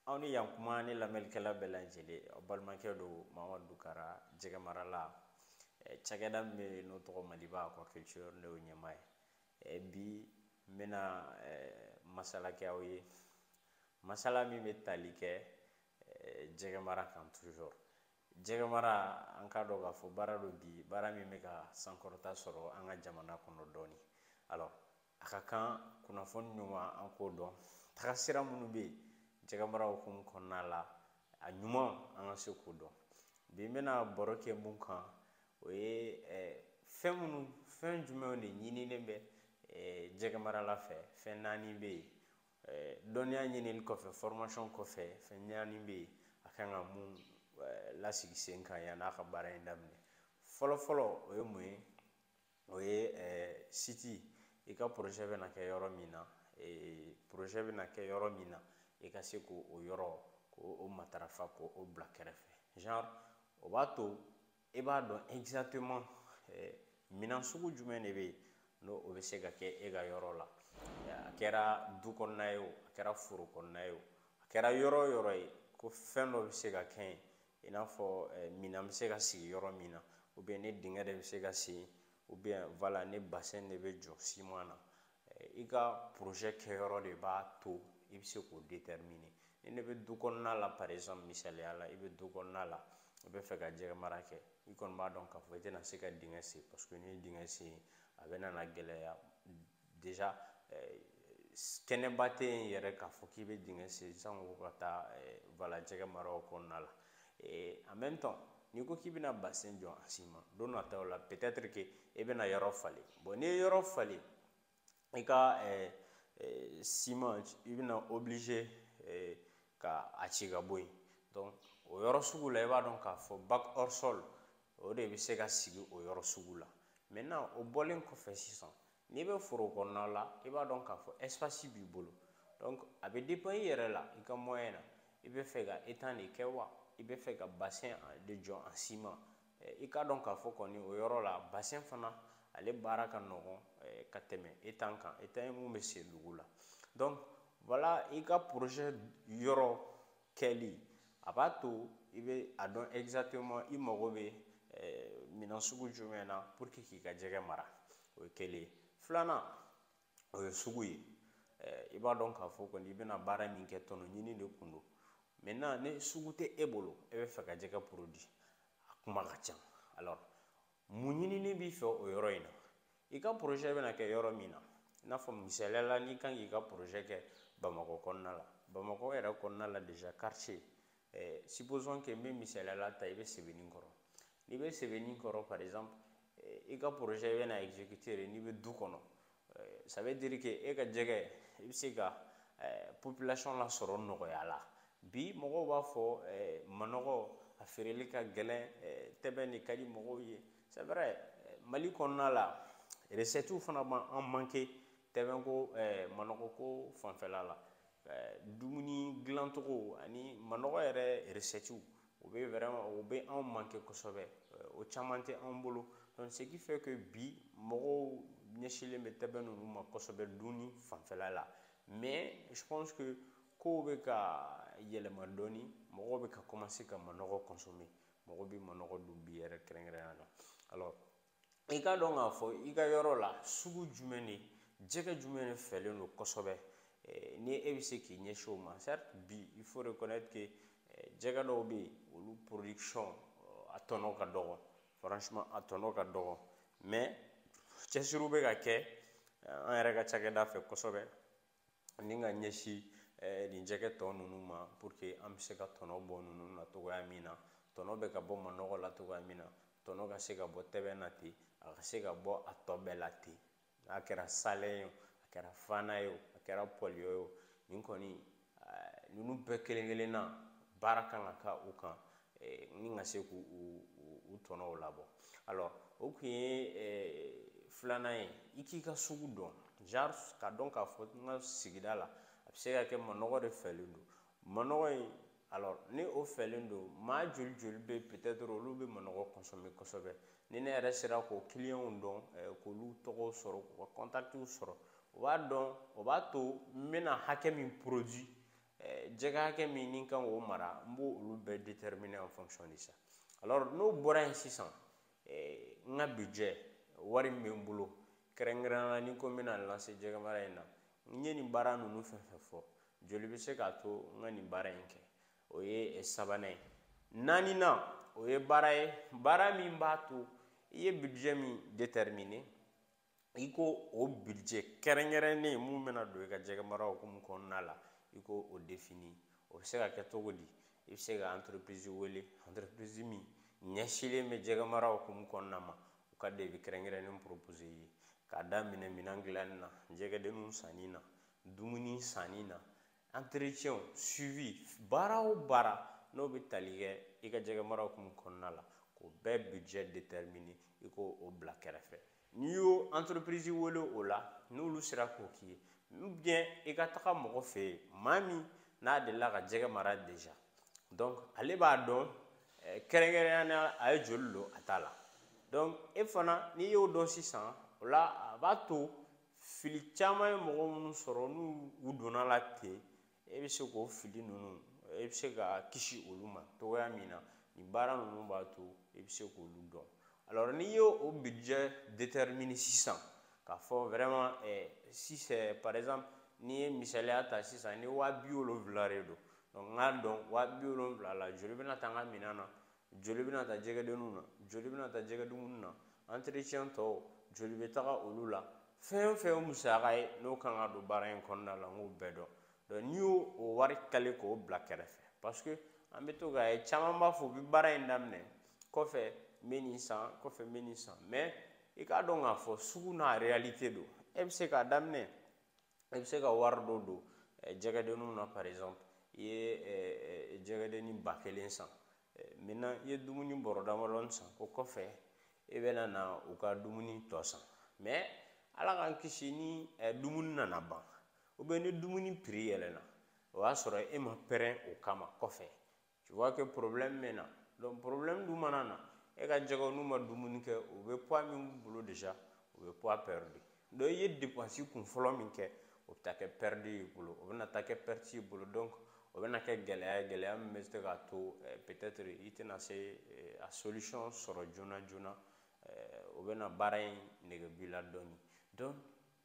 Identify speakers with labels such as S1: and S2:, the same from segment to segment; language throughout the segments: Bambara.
S1: aw ni yan kuma ne lamɛnlikɛla bɛɛ lajɛlen aw balimakɛ don mamadu dukara jɛgɛ marala cakɛda min bɛ n'o tɔgɔ maliba aquaculture ne y'o ɲɛmaa ye bi n bɛna masala kɛ aw ye masala min bɛ tali kɛ jɛgɛ mara kan toujours jɛgɛ mara an k'a dɔn k'a fɔ baara don bi baara min bɛ ka sankɔrɔta sɔrɔ an ka jamana kɔnɔ dɔɔnin alors a ka kan kunnafoni ɲuman an k'o dɔn tagasira minnu bɛ yen jɛgɛmara hukumu kɔnɔna la a ɲuman an ka se k'o dɔn bi n bɛna baro kɛ mun kan o ye fɛn minnu fɛn jumɛnw de ɲinilen bɛ jɛgɛmarala fɛ fɛn naani bɛ yen dɔnniya ɲinili kɔfɛ formation kɔfɛ fɛn naani bɛ yen a kan ka mun lasigi sen kan yanni a ka baara in daminɛ fɔlɔ fɔlɔ o ye mun ye o ye eh, site i ka projet bɛna kɛ yɔrɔ min na eh, projet bɛna kɛ yɔrɔ min na i ka se k'o yɔrɔ k'o matarafa k'o bila kɛrɛfɛ genre o b'a to i b'a dɔn exactement eh, minɛn sugu jumɛn de bɛ yen n'o bɛ se ka kɛ e ka yɔrɔ la a kɛra du kɔnɔna ye o a kɛra foro kɔnɔna ye o a kɛra yɔrɔ o yɔrɔ ye ko fɛn dɔ bɛ se ka kɛ yen i n'a fɔ eh, minan bɛ se ka sigi yɔrɔ min na ou bien ni dingɛ de bɛ se ka sen ou bien voilà ni bassin de bɛ jɔ ciment na eh, i ka projet kɛyɔrɔ de b'a to i bɛ se k'o déterminer ni ne bɛ du kɔnɔna la par exemple misaliya la i bɛ du kɔnɔna la i bɛ fɛ ka jɛgɛ mara kɛ i kɔni b'a dɔn k'a fɔ i tɛna se ka dingɛ sen parce que n'i ye dingɛ sen a bɛna gɛlɛya déjà eh, kɛnɛba tɛ yen yɛrɛ k'a fɔ k'i bɛ dingɛ sen sango ka taa eh, voilà jɛgɛ mara o kɔnɔna la eh, en même temps n'i ko k'i bɛna bassin jɔ en ciment don nataw la peut-être que i bɛna yɔrɔ falen bon n'i ye yɔrɔ falen i ka ciment i bɛna obligé ka a ci ka bɔ yen donc o yɔrɔ sugu la i b'a dɔn k'a fɔ bac hors sol o de bɛ se ka sigi o yɔrɔ sugu la maintenant o bɔlen kɔfɛ sisan n'i bɛ foro kɔnɔna la i b'a dɔn k'a fɔ espace b'i bolo donc a bɛ dépend i yɛrɛ la i ka moyen na i bɛ fɛ ka étang de kɛ wa i bɛ fɛ ka bassin de jɔ en ciment i k'a dɔn k'a fɔ kɔni o yɔrɔ la bassin fana ale baara ka nɔgɔn ka tɛmɛ étang kan étang ye mun bɛ sen dugu la donc voilà i ka projet yɔrɔ kɛli a b'a to i bɛ a dɔn exactement i mago bɛ eh, minɛn sugu jumɛn na pour que k'i ka jɛgɛ mara o ye kelen ye filanan o ye sugu ye eh, i b'a dɔn k'a fɔ kɔni i bɛna baara min kɛ tɔnɔ ɲini de kun don maintenant ni sugu tɛ e bolo e bɛ fɛ ka jɛgɛ produit a kuma ka ca alors mun ɲinini b'i fɛ o yɔrɔ in na i ka porozɛ bɛna kɛ yɔrɔ min na i n'a fɔ misaliya la n'i kan k'i ka porozɛ kɛ bamakɔ kɔnɔna la bamakɔ yɛrɛ kɔnɔna la déjà quartier eh, supposons que n bɛ misaliya la ta i bɛ sebenikɔrɔ n'i bɛ sebenikɔrɔ par exemple eh, i ka porozɛ i bɛna exécuter de n'i bɛ du kɔnɔ ça veut dire que e ka jɛgɛ i bɛ se ka population lasɔrɔ nɔgɔya la bi mɔgɔw b'a fɔ manɔgɔ a feereli ka gɛlɛn tɛbɛn de ka di mɔgɔw ye c'est vrai mali kɔnɔna la recettes fana b'an manqué tɛbɛnko manɔgɔko fanfɛla la dumuni dilancogo ani manɔgɔ yɛrɛ recettes o bɛ vraiment o bɛ anw manqué kosɛbɛ o caman tɛ anw bolo donc ce qui fait que bi mɔgɔw ɲɛsinlen bɛ tɛbɛn ninnu ma kosɛbɛ dunni fanfɛla la mais je pense que kow bɛ ka yɛlɛma dɔɔni mɔgɔw bɛ ka commencer ka manɔgɔ consommer mɔgɔ bɛ manɔgɔ dun bi yɛrɛ kɛrɛnkɛrɛnnenya la alors i k'a dɔn k'a fɔ i ka yɔrɔ la sugu jumɛn de jɛgɛ jumɛn de fɛlen don kosɛbɛ eh, ni e bɛ se k'i ɲɛsin o ma certes bi il faut reconnaître que eh, jɛgɛ dɔw bɛ yen olu production eh, a tɔnɔ ka dɔgɔ franchement a tɔnɔ ka dɔgɔ mais cɛsiriw bɛ ka kɛ an yɛrɛ ka cakɛda fɛ kosɛbɛ ni ka ɲɛsin eh, nin jɛgɛ tɔ ninnu ma pour que an bɛ se ka tɔnɔ bɔ ninnu na cogoya min na tɔnɔ bɛ ka bɔ manɔgɔ la cogoya min na tɔnɔ ka se ka bɔ tɛbɛn na ten a ka se ka bɔ a tɔ bɛɛ la ten n'a kɛra salɛn ye o a kɛra fana ye o a kɛra pɔliyɔ ye o nin kɔni eh, ninnu bɛɛ kelen kelenna baara kan ka kɛ u kan eh, ni ka se k'u tɔnɔw labɔ alors o kun ye eh, filanan ye i k'i ka sugu dɔn genre ka dɔn k'a fɔ n ka sigida la a bɛ se ka kɛ manɔgɔ de fɛlen don manɔgɔ in alors ni o fɛlen don maa joli joli bɛ peut-être olu bɛ manɔgɔ consommer kosɛbɛ ni ne yɛrɛ sera k'o clients dɔn eh, k'olu tɔgɔw sɔrɔ k'u ka contacts sɔrɔ o b'a dɔn o b'a to n bɛna hakɛ min produit jɛgɛ hakɛ min ni kan k'o mara n b'o olu bɛɛ déterminer en fonction de ça alors n'o bɔra yen sisan n ka budget wari min bɛ n bolo kɛrɛnkɛrɛnnenya la ni n ko n bɛna n lancer jɛgɛ mara in na n ye nin baara ninnu fɛn fɛn fɔ joli bɛ se k'a to n ka nin baara in kɛ o ye sabanan ye naaninan o ye baara ye baara min b'a to i ye budget min déterminer i k'o budget kɛrɛnkɛrɛnnen min bɛna don i ka jɛgɛ mara hukumu kɔnɔna la i k'o définir o bɛ se ka kɛ cogo di i bɛ se ka entreprise wele entreprise min ɲɛsinlen bɛ jɛgɛ mara hukumu kɔnɔna ma u ka devis kɛrɛnkɛrɛnnen proposer i ye k'a daminɛ minɛn dilanni na jɛgɛdenninw sanni na dumuni sanni na entretien suivi baara o baara n'o bɛ tali kɛ i ka jɛgɛ mara hukumu kɔnɔna la k'o bɛɛ budget déterminer i k'o bila kɛrɛfɛ n'i y'o entreprise wele o la n'olu sera k'o k'i ye ou bien i ka taga mɔgɔ fɛ yen maa min n'a delila ka jɛgɛ mara déjà donc ale b'a dɔn eh, kɛrɛnkɛrɛnnenya a ye joli don a ta la donc e fana n'i y'o dɔn sisan o la a b'a to fili caman ye mɔgɔ minnu sɔrɔ n'u donna la ten e bɛ se k'o fili ninnu e bɛ se ka kisi olu ma cogoya min na nin baara ninnu b'a to e bɛ se k'olu dɔn alors n'i y'o budget déterminer sisan k'a fɔ vraiment eh, si c'est par exemple n'i ye misaliya ta sisan ni waa bi wolonwula de don donc n k'a dɔn waa bi wolonwula la joli bɛna ta n ka minɛn na joli bɛna ta jɛgɛdenninw na joli bɛna ta jɛgɛ dumuni na entretien tɔw joli bɛ taga olu la fɛn o fɛn ye musaka ye n'o kan ka don baara in kɔnɔna la n k'o bɛɛ dɔn donc n'i y'o o wari caler k'o bila kɛrɛfɛ parce que an bɛ to k'a ye caman b'a fɔ u bɛ baara in daminɛ kɔfɛ n bɛ nin san kɔfɛ n bɛ nin san mais i k'a dɔn k'a fɔ sugu n'a réalité don e bɛ se k'a daminɛ i bɛ se ka wari dɔ don jɛgɛdenninw na par exemple i ye jɛgɛdennin ba kelen san maintenant i ye dumuni bɔrɔ damadɔnin san o kɔfɛ i bɛna na u ka dumuni tɔ san mais ala k'an kisi ni dumuni nana ban ou bien ni dumuni prix yɛlɛna o y'a sɔrɔ e ma prêt o kama kɔfɛ tu vois que problème bɛ na donc problème dun mana na e ka jɛgɛw n'u ma dumuni kɛ u bɛ poids min b'u bolo déjà u bɛ poids perdu donc i ye dépense kunfɔlɔ min kɛ o bɛ taa kɛ perdu y'i bolo o bɛna taa kɛ perte y'i bolo donc o bɛna kɛ gɛlɛya ye gɛlɛya min bɛ se k'a to eh, peut-être i tɛna se eh, a solution sɔrɔ joona joona eh, o bɛna baara in nege b'i la dɔɔni donc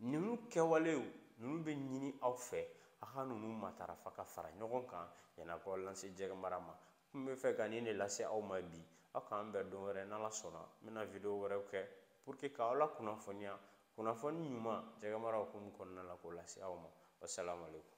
S1: ninnu kɛwalew ninnu bɛ ɲini aw fɛ a ka ninnu matarafa ka fara ɲɔgɔn kan yan'aw ka lancer jɛgɛ mara ma n bɛ fɛ ka nin de lase aw ma bi aw k'an bɛn don wɛrɛ n'ala sɔnna n bɛna video wɛrɛw kɛ pour que k'aw lakunnafoniya kunnafoni ɲuman jɛgɛ mara hukumu kɔnɔna la k'o lase aw ma wasalamu aleykum